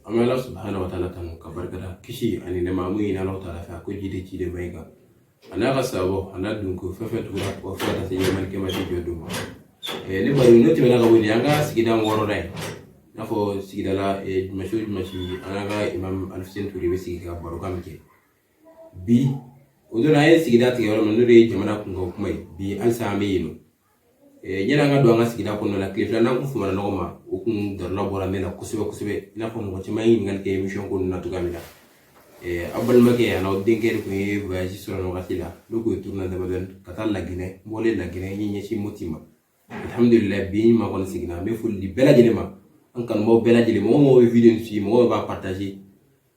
an bɛ ala subahana wa taala tanu k'a barika da kisi ani nɛɛma n b'o ɲini ala taala fɛ a k'o jigi de ciden ma i kan a n'a ka sahabaw a n'a dunko fɛn fɛn tugura u kɔ fo ka taa se yawmal kiyamati jɔ don ma ne bari n'o tɛmɛna ka bɔ yen an ka sigida wɔɔrɔ da ye i n'a fɔ sigidala juma su o juma su an n'an ka imam alifuseni ture bɛ sigi ka barokan min kɛ bi o don an ye sigida tigɛ yɔrɔ min n'o de ye jamana kunkan kuma ye bi halisa an bɛ yen nɔ Eh, yani an ka don an ka sigida kɔnɔna la tile fila in an kun fumana ɲɔgɔn ma o kun dalilu bɔra min na kosɛbɛ kosɛbɛ i n'a fɔ mɔgɔ caman ye ɲininkali kɛ emission ko na cogoya min na eh, aw balimakɛ yan aw denkɛ de kun ye voyage sɔrɔ nin wagati la ne kun ye tournée damadɔni ka taa laginɛ n bɔlen laginɛ n ye n ɲɛsin moti ma alhamdulilayi bi ma kɔni seginna n bɛ foli di bɛɛ lajɛlen ma an kanubaaw bɛɛ lajɛlen mɔgɔ o mɔgɔ bɛ video in suivi mɔgɔ b'a partage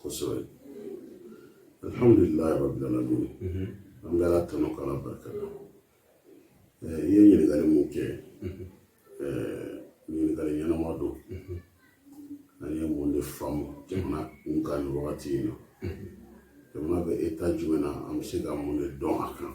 kosɛbɛ alhamdulilayi rabbil alamin an bɛ ala tanu k'ala barika da i ye ɲininkali min kɛ ɲininkali ɲɛnama don an ye mun de faamu jamana kunkan nin wagati in na jamana bɛ eta jumɛn na an bɛ se ka mun de dɔn a kan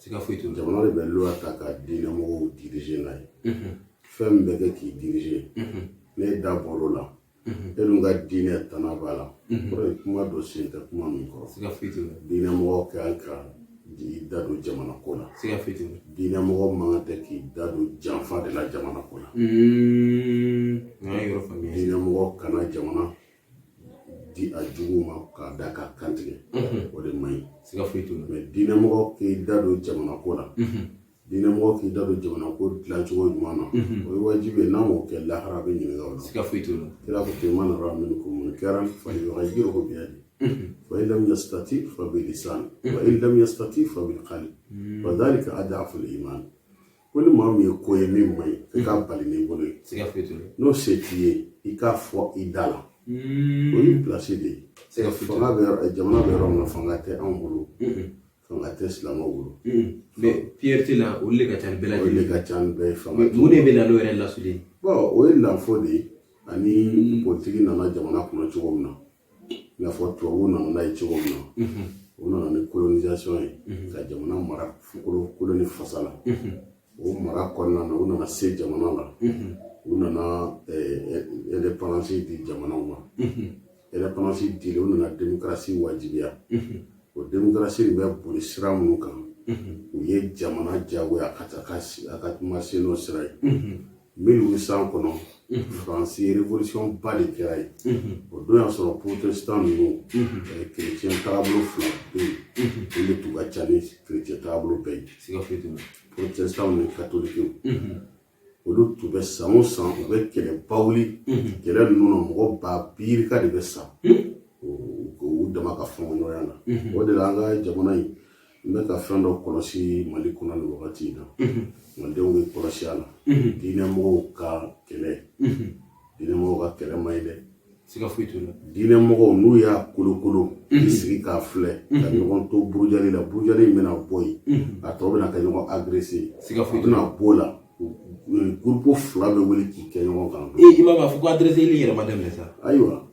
siga foyi t'o jamana de bɛ loi ta ka diinɛ mɔgɔw dirize n'a ye fɛn min bɛ kɛ k'i dirize n'e da bɔr'o la e dun ka diinɛ tana b'a la kɔrɔ ye kuma don sen tɛ kuma min kɔrɔ siga foyi t'o la diinɛ mɔgɔ ka kan ka i da don jamana ko la siga foyi t'o la diinɛ mɔgɔ man kan tɛ k'i da don janfa de la jamana ko la n'i y'a yɔrɔ faamuya diinɛ mɔgɔ kana jamana di a jugu ma k'a da k'a kan tigɛ o de man ɲi siga foyi t'o la mɛ diinɛmɔgɔ k'i da don jamana ko la diinɛmɔgɔ k'i da don jamana ko dilancogo ɲuman na o ye wajibi ye n'a m'o kɛ lahara a bɛ ɲininka o la siga foyi t'o la kira ko ten man raa minkum munkaran fa yugayiruhu biyadihi fa in lam yastati fa bi lisan wa in lam yastati fa bi kalbi wa dhalika adaful iman ko ni maa min ye ko ye min man ɲi i k'a bali n'i bolo ye n'o se t'i ye i k'a fɔ i da la o y'i pilasi de ye fanga bɛ yɔrɔ jamana bɛ yɔrɔ min na fanga tɛ anw bolo fanga tɛ silamɛw bolo mɛ priorité la olu de ka ca ni bɛɛ lajɛlen olu de ka ca ni bɛɛ ye fanga mun de bɛ na n'o yɛrɛ lasuli ye o ye lanfo de ye ani politigi nana jamana kɔnɔ cogo min na i n'a fɔ tubabuw nana n'a ye cogo min na u nana ni kolonisation ye ka jamana mara fukolo kolo ni fasa la o mara kɔnɔna na u nana se jamana la u nana indépendance di jamanaw ma indépendance dilen u nana demokarasi wajibiya o demokarasi de bɛ boli sira minnu kan u ye jamana jagoya ka taa a ka kuma sen n'o sira ye mille huit cent kɔnɔ faransi révolution ba de kɛra yen o don y'a sɔrɔ protestant ninnu chrétien taabolo fila bɛ yen olu de tun ka ca ni chrétien taabolo bɛɛ ye protestant ni katolikew olu tun bɛ san o san u bɛ kɛlɛba wuli kɛlɛ ninnu na mɔgɔ ba biirika de bɛ sa u dama ka fɔɲɔgɔnkɔya na o de la an ka jamana in n bɛ ka fɛn dɔ kɔlɔsi mali kɔnɔ nin wagati in na malidenw bɛ kɔlɔsi a la diinɛmɔgɔw ka kɛlɛ diinɛmɔgɔw ka kɛlɛ man ɲi dɛ siga foyi t'o la diinɛ mɔgɔw n'u y'a kolokolo k'i sigi k'a filɛ ka ɲɔgɔn to burujali la burujali in bɛna bɔ yen a tɔ bɛna kɛ ɲɔgɔn agrese siga foyi t'o la bɛna b'o la gurupu fila bɛ wuli k'i kɛ ɲɔgɔn kan ee i b'a fɔ ko agreseli yɛrɛ ma daminɛ sa ayiwa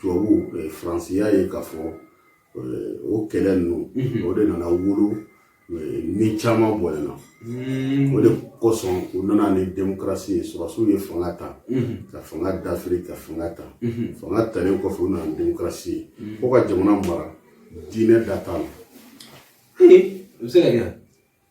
tubabu faransi y'a ye k'a fɔ o kɛlɛ ninnu mhm. o de nana wolo ni caman bɔnɛ na mhm. o de kosɔn u nana ni demokarasi ye sɔrɔsiw ye fanga ta mhm. ka fanga dafiri ka fanga ta fanga talen kɔfɛ u nana ni demokarasi ye fo ka jamana mara diinɛ da t'a la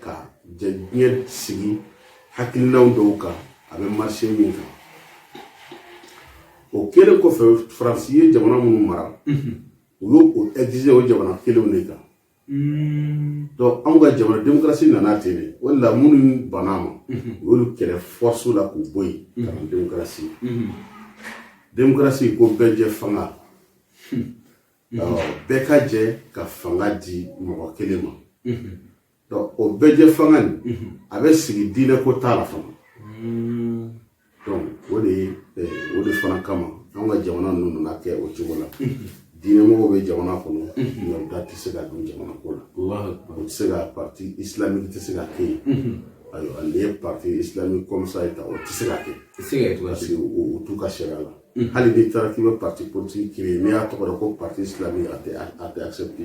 ka diɲɛ sigi hakilinaw dɔw kan a bɛ marcher min kan o kɛlen kɔfɛ faransi ye jamana minnu mara u y'o o exiger o jamana kelenw de kan donc anw ka jamana demokarasi nana ten de o de la minnu banna a ma u y'olu kɛlɛ force la k'u bɔ yen ka na demokarasi demokarasi ko bɛɛ jɛ fanga bɛɛ ka jɛ ka fanga di mɔgɔ kelen ma o bɛɛ jɛ fanga nin a bɛ sigi diinɛ ko t'a la fana o de o de fana kama an ka jamana ninnu nana kɛ o cogo la diinɛmɔgɔw bɛ jamana kɔnɔ nka u da tɛ se ka don jamana ko la o tɛ se ka parti islamique tɛ se ka kɛ yen ayiwa n'i ye parti islamique comme ça ye ta o tɛ se ka kɛ parce que o t'u ka sariya la Mm. hali n'i taara k'i bɛ parti politique créer n'i y'a tɔgɔ da ko parti islamique a tɛ a tɛ accepté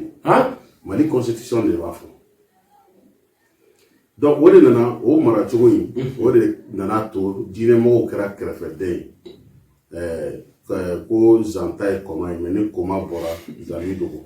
mali constitution de b'a fɔ donc o de nana o mara cogo in o de nana to diinɛmɔgɔw kɛra kɛrɛfɛden ye ko zan ta ye kɔma ye mais ni kɔma bɔra zan b'i dogo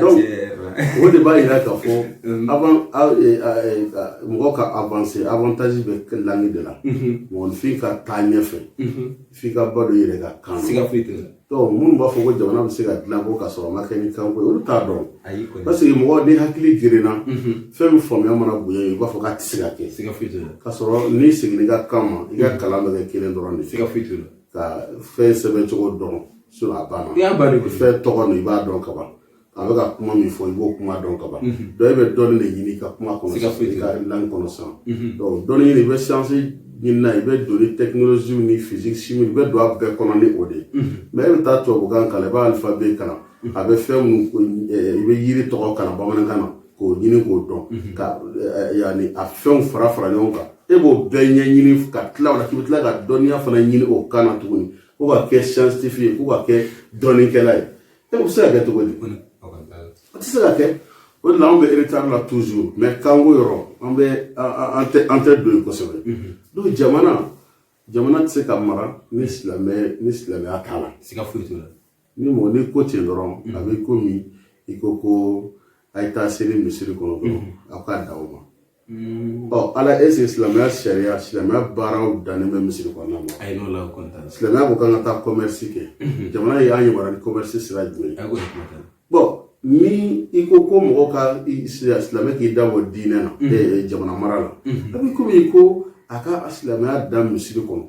donc o de b'a yira k'a fɔ mɔgɔ ka avancer avantage bɛ langue de la mɔgɔnifin ka taa ɲɛfɛ f'i ka ba don i yɛrɛ ka kan na siga foyi tɛ donc minnu b'a fɔ ko jamana bɛ se ka dilan ko k'a sɔrɔ a ma kɛ ni kanko ye olu t'a dɔn parce que mɔgɔ ni hakili gerenna fɛn min faamuya mana bonya i b'a fɔ k'a tɛ se ka kɛ siga foyi tɛ k'a sɔrɔ n'i seginna i ka kan ma i ka kalan bɛ kɛ kelen dɔrɔn de siga foyi tɛ ka fɛn sɛbɛn cogo dɔn so a banna i y'a bari fɛn tɔgɔ ninnu i b'a dɔn ka ban a bɛ ka kuma min fɔ i b'o kuma dɔn ka ban donc e bɛ dɔnni de ɲini i ka kuma kɔnɔ i ka langue kɔnɔ sisan dɔnni ɲini i bɛ science ɲini na i bɛ don ni technologie ni physique chimie i bɛ don a bɛɛ kɔnɔ ni o de ye mais e bɛ taa tubabukan kalan i b'a alphabet kalan a bɛ fɛn minnu i bɛ yiri tɔgɔ kalan bamanankan na k'o ɲini k'o dɔn ka yanni a fɛnw fara fara ɲɔgɔn kan e b'o bɛɛ ɲɛɲini ka tila o la k'i bɛ tila ka dɔnniya fana ɲini o kan na tuguni ko ka kɛ scientifique ye ko ka kɛ dɔnnikɛla ye e bɛ se ka kɛ cogo di o tɛ se ka kɛ o de la anw bɛ retard la toujours mais kanko yɔrɔ an bɛ an tɛ an tɛ don yen kosɛbɛ donc jamana jamana tɛ se ka mara ni silamɛ ni silamɛya t'a la siga foyi t'o la Ni mɔgɔ ni i ko ten dɔrɔn a bɛ komi i ko ko a ye taa seli misiri kɔnɔ dɔrɔn aw ka dan o ma ɔ ala est ce que silamɛya sariya silamɛya baaraw dannen bɛ misiri kɔnɔna ma silamɛya ko k'an ka taa commerce kɛ jamana y'an yamaruya ni commerce sira jumɛn bon ni i ko ko mɔgɔ ka silamɛ k'i da bɔ diinɛ na jamana mara la a bɛ komi i ko a ka silamɛya dan misiri kɔnɔ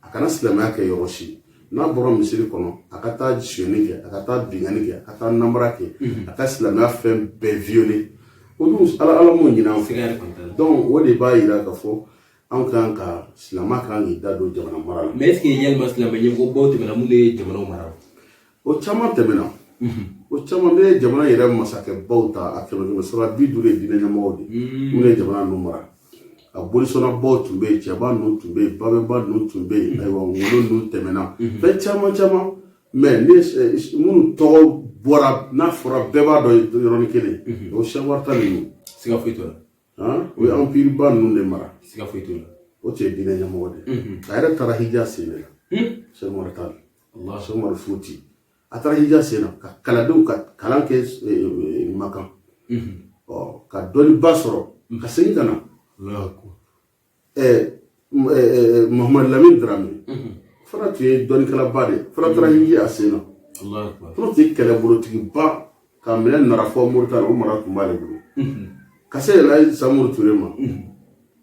a kana silamɛya kɛ yɔrɔ si n'a bɔra misiri kɔnɔ a ka taa sonyani kɛ a ka taa binkanni kɛ a ka taa namara kɛ mhm. a ka silamɛya fɛn bɛɛ violer o dun ala ala m'o ɲin'an fɛ donc o de b'a yira k'a fɔ anw kan ka silamɛ kan k'i da don jamana mara la mais est ce que yalima silamɛ ɲɛmɔgɔ baw tɛmɛna minnu ye jamanaw mara o caman tɛmɛna mhm. o caman bɛ jamana yɛrɛ masakɛbaw ta a kɛmɛ kɛmɛ sara bi duuru ye diinɛ ɲɛmɔgɔw de minnu mhm. ye jamana ninnu mara a bolisɔnnabaw tun bɛ yen cɛba ninnu tun bɛ yen babɛnba ninnu tun bɛ yen ayiwa ngolo ninnu tɛmɛna fɛn caman caman mais minnu tɔgɔ bɔra n'a fɔra bɛɛ b'a dɔn yɔrɔnin kelen o cheikh oumar tall ninnu siga foyi t'o la o ye empire ba ninnu de mara siga foyi t'o la o tun ye diinɛ ɲɛmɔgɔ de ye a yɛrɛ taara hiji a sen de la cheikh oumar tall cheikh oumar futi a taara hiji a sen na ka kalandenw ka kalan kɛ makan ɔ ka dɔnniba sɔrɔ ka segin ka na mahamadu lamini darame fana tun ye dɔnnikɛlaba de fana taara hiji a sen na fana tun ye kɛlɛbolotigiba ka minɛ nara fo moritani o mara tun b'ale bolo ka se yɛlɛ samori ture ma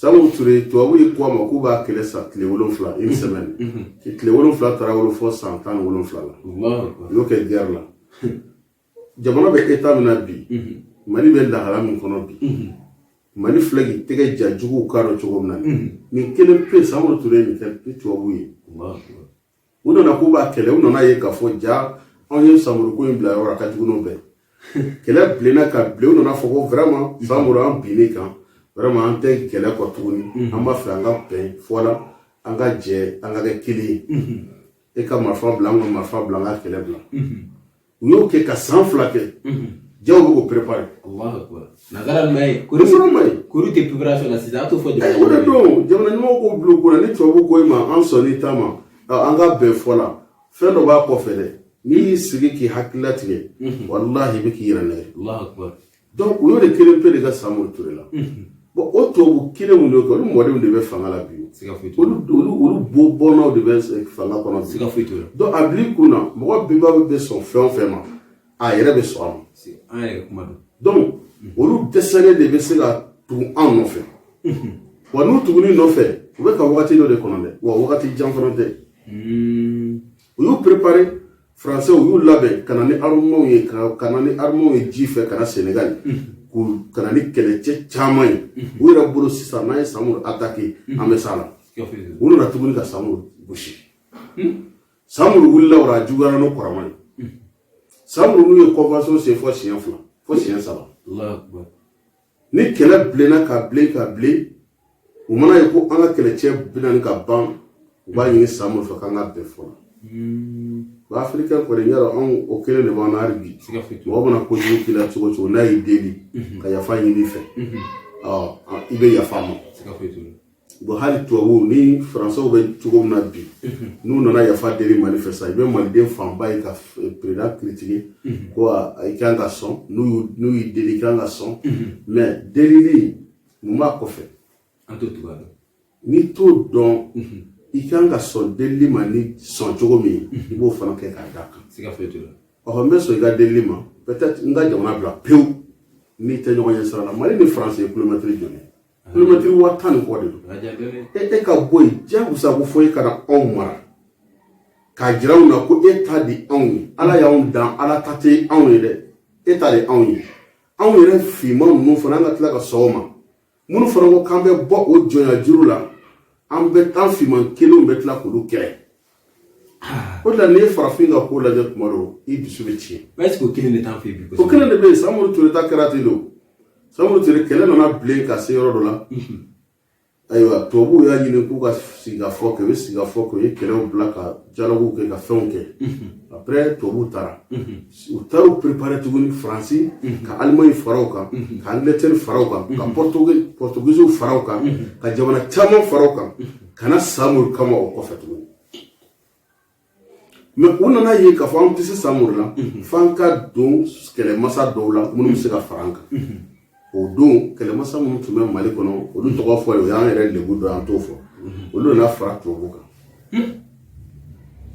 Samori Ture tubabu ye k'a ma k'u b'a kɛlɛ sa tile wolonwula une semaine tile wolonwula taara wolo fɔ san tan ni wolonwula la u y'o kɛ guerre la jamana bɛ état min na bi Mali bɛ lahala min kɔnɔ bi Mali filɛ k'i tɛgɛ ja juguw k'a dɔn cogo min na nin kelen pe Samori Ture nin kɛ ni tubabu ye u nana k'u b'a kɛlɛ u nana ye k'a fɔ ja anw ye samuri ko in bila yɔrɔ a ka jugu n'o bɛɛ kɛlɛ bilenna ka bilen u nana fɔ ko vraiment samuru an binnen kan vraiment an tɛ kɛlɛ kɔ tuguni mhm. an b'a fɛ an ka bɛn fɔ la an ka jɛ an ka kɛ kelen ye mhm. e ka marifa bila an ka marifa bila an ka kɛlɛ bila mhm. u y'o kɛ ka san fila kɛ ja u bɛ k'u prepare nagara ma ye kori ma ye kori tɛ preparation na sisan a t'o fɔ jamana o de don jamana ɲɛmɔgɔw k'o bila u kun na ni tubabu ko i ma an sɔnna i ta ma an ka bɛn fɔ la fɛn dɔ b'a kɔfɛ dɛ n'i y'i sigi k'i hakili latigɛ walahi i bɛ k'i yɛrɛ nɛgɛn donc u y'o de kelen pe de ka samori ture la bon o tubabu kelenw de kɛ olu mɔdenw de bɛ fanga la bi olu olu bo bɔnnaw de bɛ eh, fanga kɔnɔ bi donc a bil'i kun na mɔgɔ bɛnba bɛ sɔn fɛn o fɛn ma a yɛrɛ bɛ sɔn a ma donc olu dɛsɛlen de bɛ se ka tugu an nɔfɛ wa n'u tuguni nɔfɛ u bɛ ka wagati dɔ de kɔnɔ dɛ wa wagati jan fana tɛ u y'u préparer Français u y'u labɛn ka na ni armements ye ka na ni armements ye ji fɛ ka na Senegal ka na ni kɛlɛcɛ caman ye u yɛrɛ bolo sisan n'an ye Samori attaquer an bɛ s'a la u nana tuguni ka Samori gosi Samori wulila o la a juguyara n'o kɔrɔma ye Samori n'u ye convention signer fo siɲɛ fila fo siɲɛ saba ni kɛlɛ bilenna ka bilen ka bilen u mana ye ko an ka kɛlɛcɛ bɛ ɲini ka ban u b'a ɲini samuru fɛ k'an ka bɛn fɔ la wa afirikɛn kɔni y'a dɔn anw o kelen de b'an na hali bi mɔgɔ mana kojugu k'i la cogo o cogo n'a y'i deli ka yafa ɲini i fɛ i bɛ yafa a ma bon hali tubabuw ni faransɛw bɛ cogo min na bi n'u nana yafa deli mali fɛ sa i bɛ maliden fanba ye ka perezidan kiritike ko i kan ka sɔn n'u y'i deli i kan ka sɔn mɛ delili mun b'a kɔfɛ n'i t'o dɔn i kan ka sɔn delili ma n'i sɔn cogo min i b'o fana kɛ k'a d'a kan ɔhɔ n bɛ sɔn i ka delili ma peut-être n ka jamana bila pewu n'i tɛ ɲɔgɔn ye sira la mali ni faransi ye kilomɛtiri joli kilomɛtiri waa tan ni kɔ de don e ka bɔ yen jagosa ko fo e ka na anw mara k'a jira anw na ko e ta de anw ye ala y'anw dan ala ta tɛ anw ye dɛ e ta de anw ye anw yɛrɛ finman ninnu fana an ka tila ka sɔn o ma minnu fana ko k'an bɛ bɔ o jɔnya juru la an bɛ an finman kelenw bɛ tila k'olu kɛlɛ O de la n'i ye farafin ka ko lajɛ tuma dɔw i dusu bɛ tiɲɛ ɛseke o kelen de t'an fɛ bi o kelen de bɛ yen samuru ture ta kɛra ten de samuru ture kɛlɛ nana bilen ka se yɔrɔ dɔ la ayiwa tubabuw y'a ɲini k'u ka sigikafɔ kɛ u ye sigikafɔ kɛ u ye kɛlɛw bila ka dialogues kɛ ka fɛnw kɛ après tubabuw taara u taara u préparer tuguni faransi ka alimaɲi fara u kan ka angilɛtɛri fara u kan ka pɔrtugiziw fara u kan ka jamana caman fara u kan ka na samori kama o kɔfɛ tuguni mais u nana ye k'a fɔ an tɛ se samori la mhm. f'an ka don kɛlɛmasa dɔw la minnu bɛ se ka fara an kan mhm. o don kɛlɛmasa minnu tun bɛ mali kɔnɔ olu mhm. tɔgɔ fɔ ye o y'an yɛrɛ lebu dɔ an t'o fɔ olu nana fara tubabu kan hmm.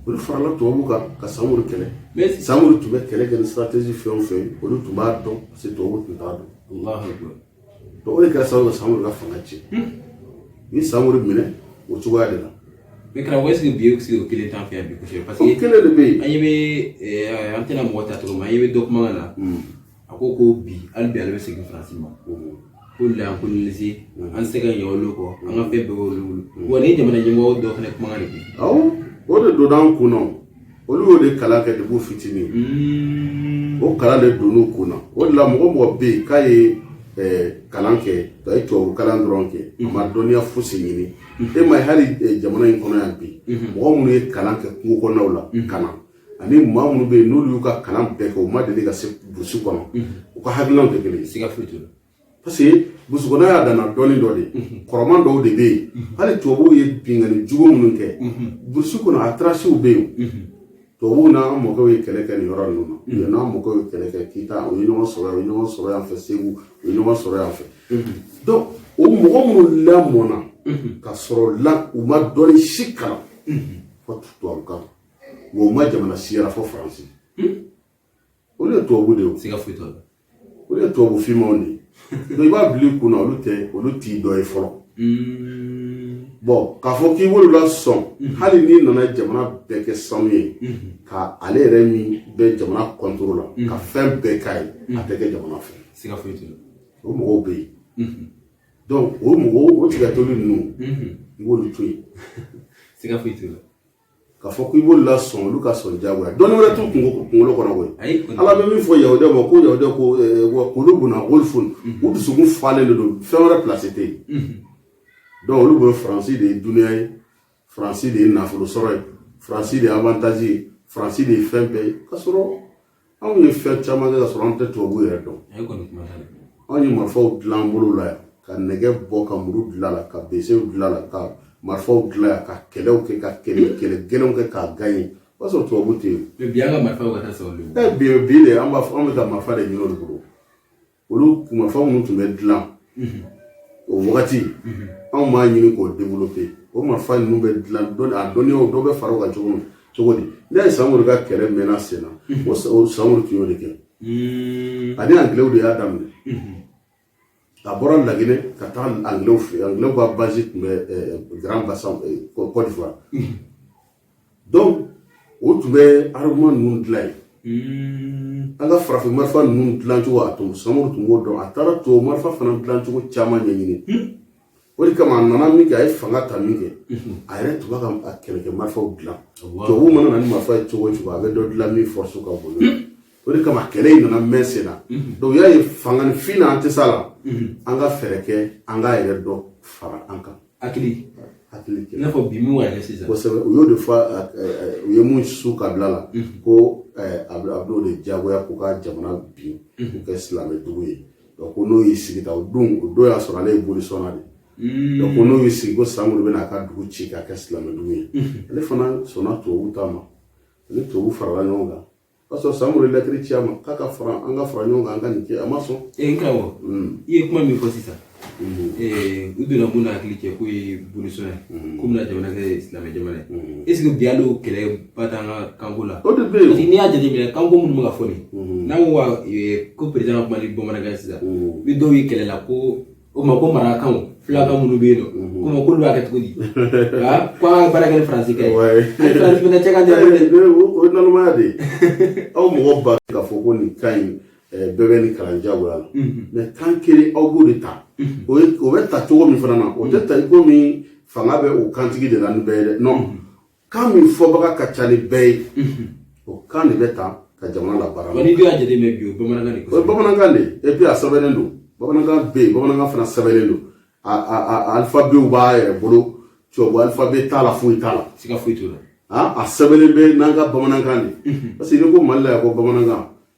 olu farala tubabu kan ka samori kɛlɛ samori tun bɛ kɛlɛ kɛ ni stratégie fɛn o fɛn olu tun b'a dɔn parce que tubabu tun t'a dɔn donc o de kɛra sababu ka samori ka fanga tiɲɛ u ye samori minɛ o cogoya de la mais karamɔgɔ est-ce que bi sigi o kelen t'an fɛ yan bi kosɛbɛ parce que o kelen de bɛ yen an ɲɛ bɛ eh, an tɛna mɔgɔ ta cogo min an ɲɛ bɛ dɔ kuma na hmm. a ko ko bi hali bi ale bɛ segin faransi ma hmm. k'olu y'an coloniser hmm. an tɛ se ka ɲɛ olu kɔ an ka fɛn bɛɛ b'olu bolo wa ni jamana ɲɛmɔgɔ dɔ fana kuma de bi awɔ o de donna an kun na olu y'o de kalan kɛ depuis fitinin hmm. o kalan de donn'u kun na o de la mɔgɔ mɔgɔ bɛ yen k'a ye kalan kɛ a ye tubabu kalan dɔrɔn kɛ a ma hmm. dɔnniya fosi ɲini hmm. e ma ye hali jamana in kɔnɔ yan bi mɔgɔ minnu ye kalan kɛ kungo kɔnɔnaw la ka na ani maa minnu bɛ yen n'olu y'u ka kalan bɛɛ kɛ u ma deli ka se burusi kɔnɔ u ka hakilinaw tɛ kelen ye parce que burusi kɔnɔ y'a dana dɔnni dɔ de kɔrɔman dɔw de bɛ yen hali tubabuw ye binkanni jugu minnu kɛ burusi kɔnɔ a tarasiw bɛ yen tubabuw n'an mɔkɛw ye kɛlɛ kɛ nin yɔrɔ ninnu na u ye n'an mɔkɛw ye kɛlɛ kɛ kita u ye ɲɔgɔn sɔrɔ yan u ye ɲɔgɔn sɔrɔ yan fɛ segu u ye ɲɔgɔn sɔrɔ yan fɛ donc o mɔgɔ minnu lamɔna ka sɔrɔ la u ma dɔnni si kalan fɔ tubabukan wa u ma jamana si yaala fɔ faransi olu ye tubabu de ye o siga foyi t'a la olu ye tubabu finmanw de ye donc i b'a bila i kun na olu tɛ olu t'i dɔ ye fɔlɔ bon k'a fɔ k'i b'olu lasɔn hali n'i nana jamana bɛɛ kɛ sanu ye ka ale yɛrɛ min bɛ jamana contre la ka fɛn bɛɛ k'a ye a tɛ kɛ jamana fɛ siga foyi t'a la o mɔgɔw bɛ yen donc o mɔgɔw o tigatoli ninnu i b'olu to yen siga foyi t'a la k'a fɔ ko i b'olu lasɔn olu ka sɔn jagoya dɔnni wɛrɛ t'u kungo kunkolo kɔnɔ koyi ala bɛ min fɔ yahudiya ma ko yahudiya ko wa kulubuna gulfun u dusukun falen de don fɛn wɛrɛ place tɛ yen donc olu bolo faransi de ye dunuya ye faransi de ye nafolo sɔrɔ ye faransi de ye avantage ye faransi de ye fɛn bɛɛ ye k'a sɔrɔ anw ye fɛn caman kɛ ka sɔrɔ an tɛ tubabu yɛrɛ dɔn anw ye marifaw dilan an bolo la yan ka nɛgɛ bɔ ka muru dilan la ka besew dilan la ka marifaw dilan yan ka kɛlɛw kɛ ka kɛlɛ kɛlɛ gɛlɛnw kɛ k'a gagner o y'a sɔrɔ tubabu tɛ yen bi an ka marifaw ka taa sɔrɔ bi de an b'a fɔ an bɛ ka marifa de ɲini olu bolo olu marifa minnu tun bɛ dilan o wagati anw m'a ɲini k'o développer o marifa ninnu bɛ dilan dɔnni a dɔnniyaw dɔ bɛ fara o kan cogo min cogo di n'i ye samori ka kɛlɛ mɛnna sen na o samori tun y'o de kɛ ani angilew de y'a daminɛ a bɔra laginɛ ka taa angilew fɛ angilew ka base tun bɛ grand bassam cote d'ivoire donc o tun bɛ armement ninnu dilan yen hmm. an ka farafin marifa ninnu dilancogo a tun samori tun b'o dɔn a taara tubabu marifa fana dilancogo caman ɲɛɲini hmm. o de kama a nana min kɛ a ye fanga ta min kɛ hmm. a yɛrɛ tun b'a ka kɛlɛkɛ marifaw dilan tubabu mana na ni marifa ye cogo o cogo a bɛ dɔ dilan min force ka bon o de kama kɛlɛ in nana mɛn sen na donc y'a ye fanga ni fin na an tɛ s'a la an ka fɛɛrɛ kɛ an k'a yɛrɛ dɔ fara an kan hakili hakili kɛ i n'a fɔ bi min wɛrɛ sisan kosɛbɛ u y'o de fɔ u ye mun su ka bila la ko a b'o de diyagoya k'u ka jamana bin k'u kɛ silamɛ dugu ye donc ko n'o y'i sigi ta o don o don y'a sɔrɔ ale ye bolisɔnna de ye donc ko n'o y'i sigi ko samori bɛna a ka dugu ci k'a kɛ silamɛ dugu ye ale fana sɔnna tubabuw ta ma a ni tubabuw farala ɲɔgɔn kan o y'a sɔrɔ samori ye lɛtiri ci a ma k'a ka fara an ka fara ɲɔgɔn kan an ka nin kɛ a ma sɔn ee n karamɔgɔ i ye kuma min fɔ sisan ee u donna mun na hakili cɛ k'o ye bolisɔn ye k'u bɛna jamana kɛ silamɛ jamana ye est ce que bi hali o kɛlɛ ba t'an ka kanko la o de bɛ yen parce que n'i y'a jateminɛ kanko minnu bɛ ka fɔ nin n'an ko wa ee, ko perezidan ka kuma ni bamanankan sisan ni dɔw ye kɛlɛ la ko o ma ko marakakan filakan minnu bɛ yen nɔ komi k'olu b'a kɛ cogo di ko an ka baara kɛ ni faransikan ye an ni faransi fana cɛ ka jan o ye nalomaya de ye aw mɔgɔ ba k'a fɔ ko nin kan in bɛɛ bɛ nin kalan jagoya la mais kan kelen aw b'o de ta o bɛ ta cogo min fana na o tɛ ta i komi fanga bɛ o kantigi de la ni bɛɛ ye dɛ non kan min fɔbaga ka ca ni bɛɛ ye o kan de bɛ ta ka jamana labaara n'i y'a jateminɛ bi o bamanankan de o ye bamanankan de ye epi a sɛbɛnnen don bamanankan bɛ yen bamanankan fana sɛbɛnnen don a a a alifabew b'a yɛrɛ bolo tubabu alifabe t'a la foyi t'a la siga foyi t'o la a sɛbɛnnen bɛ n'an ka bamanankan de parce que n'i ko mali la yan ko bamanankan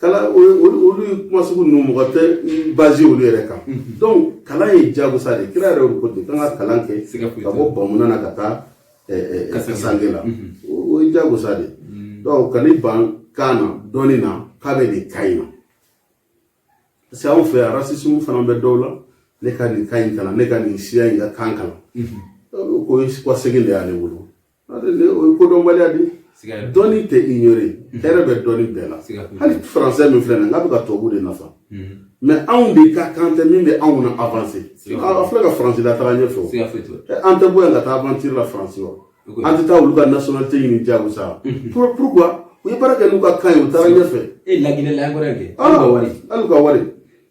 kalan olu kuma sugu ninnu mɔgɔ tɛ basé olu yɛrɛ kan donc kalan ye jagosa de kira yɛrɛ ko ten k'an ka kalan kɛ ka bɔ bamunan na ka taa kasange la o ye jagosa de donc ka ni ban kan na dɔnni na k'a bɛ nin kan in na parce que anw fɛ yan rasisimu fana bɛ dɔw la ne ka nin kan in kalan ne ka nin siya in ka kan kalan k'o ye segin de y'ale bolo o kodɔnbaliya de dɔnni tɛ ignorer hɛrɛ bɛ dɔnni bɛɛ la hali français min filɛ nin n'a bɛ ka tubabu de nafa mais anw de ka kan tɛ min bɛ anw na avancer a filɛ ka faransi la taga ɲɛfɛ an tɛ bɔ yan ka taa aventure la faransi wa an tɛ taa olu ka nationalité ɲini jagosa pourquoi u ye baara kɛ n'u ka kan ye u taara ɲɛfɛ e laginɛ la an kɔrɔ kɛ hali ka wari hali ka wari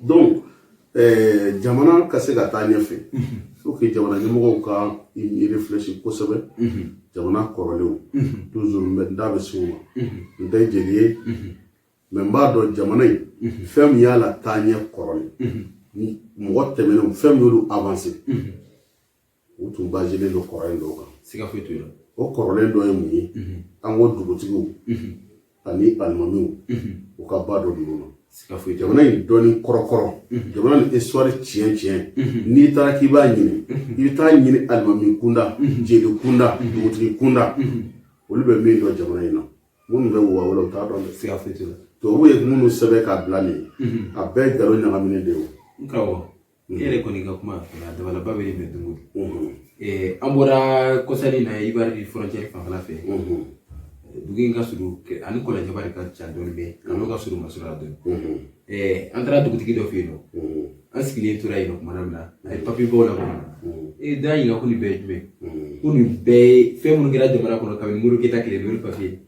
donc eh, jamana ka se ka taa ɲɛfɛ faut que jamana ɲɛmɔgɔw ka i réfléchir kosɛbɛ jamana kɔrɔlenw toujours n bɛ n da bɛ se o ma n tɛ jeli ye mais n b'a dɔn jamana in fɛn min y'a la taa ɲɛ kɔrɔlen mɔgɔ tɛmɛnenw fɛn min y'olu avancer u tun baselen don kɔrɔlen dɔw kan siga foyi t'o la o kɔrɔlen dɔ ye mun ye an ko dugutigiw ani alimamiw u ka ba dɔ ninnu na siga foyi jamana in dɔnni kɔrɔkɔrɔ jamana ni histoire tiɲɛ tiɲɛ n'i taara k'i b'a ɲini i bɛ taa ɲini alimami kunda jeli kunda dugutigi kunda olu bɛ min dɔn jamana in na minnu bɛ wa wɛrɛ u t'a dɔn siga foyi t'o la tubabu ye minnu sɛbɛn k'a bila nin a bɛɛ ye nkalon ɲagaminen de ye o e yɛrɛ kɔni ka kuma a dabalaba bɛ bɛn dugu an bɔra kɔsa in na Ivoire frontière fanfɛla fɛ dugu in ka surun ani kɔlɔnjɛba de ka jan dɔɔni bɛ n'o ka surun masɔrɔ dɔɔni an taara dugutigi dɔ fɛ yen nɔ an sigilen tora yen nɔ tuma min na a ye papiye baw la kɔnɔ ne d'a ɲininka ko nin bɛɛ ye jumɛn ko nin bɛɛ ye fɛn minnu kɛra jamana kɔnɔ kabini modibo keyita tile n'o ye papiye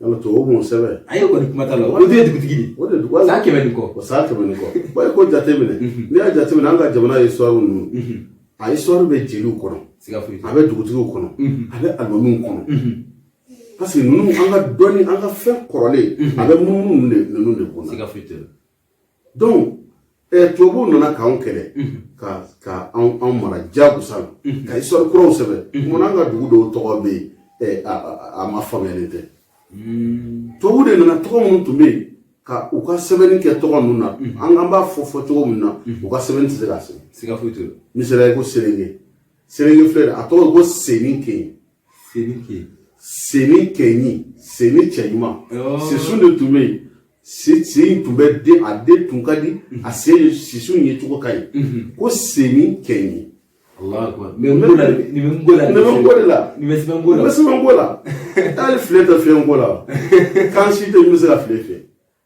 Yala tubabu m'o sɛbɛn a ye kɔni kuma t'a la o de ye dugutigi de ye o de ye dugu san kɛmɛ ni kɔ o san kɛmɛ ni kɔ ba ye ko jateminɛ n'i y'a jateminɛ an ka jamana histoire ninnu a histoire bɛ jeliw kɔnɔ siga foyi a bɛ dugutigiw kɔnɔ a bɛ alimamiw kɔnɔ parce que ninnu an ka dɔnni an ka fɛn kɔrɔlen a bɛ munumunu ninnu de ninnu de kɔnɔ siga foyi tɛ donc eh, tubabuw nana k'anw kɛlɛ ka ka anw anw mara jagosa la ka histoire kuraw sɛbɛn mun an ka dugu dɔw tɔgɔ bɛ yen eh, a- a a ma faamuyalen tɛ tubabuw de nana tɔgɔ minnu tun bɛ yen ka u ka sɛbɛnni kɛ tɔgɔ ninnu na an an b'a fɔ fɔ cogo min na u ka sɛbɛnni tɛ se k'a sɛbɛn siga foyi t'o la misaliya ko selenge selenge filɛ nin ye, a tɔgɔ ye ko senin kɛɲi Senin kɛɲi. Senin kɛɲi senin cɛɲuman sisun de tun bɛ yen si si in tun bɛ den a den tun ka di a se sisun yecogo ka ɲi ko senin kɛɲi ko la ko la taa filɛ tɛ fiɲɛ ko la k'an si tɛ bɛ se ka filɛ fɛ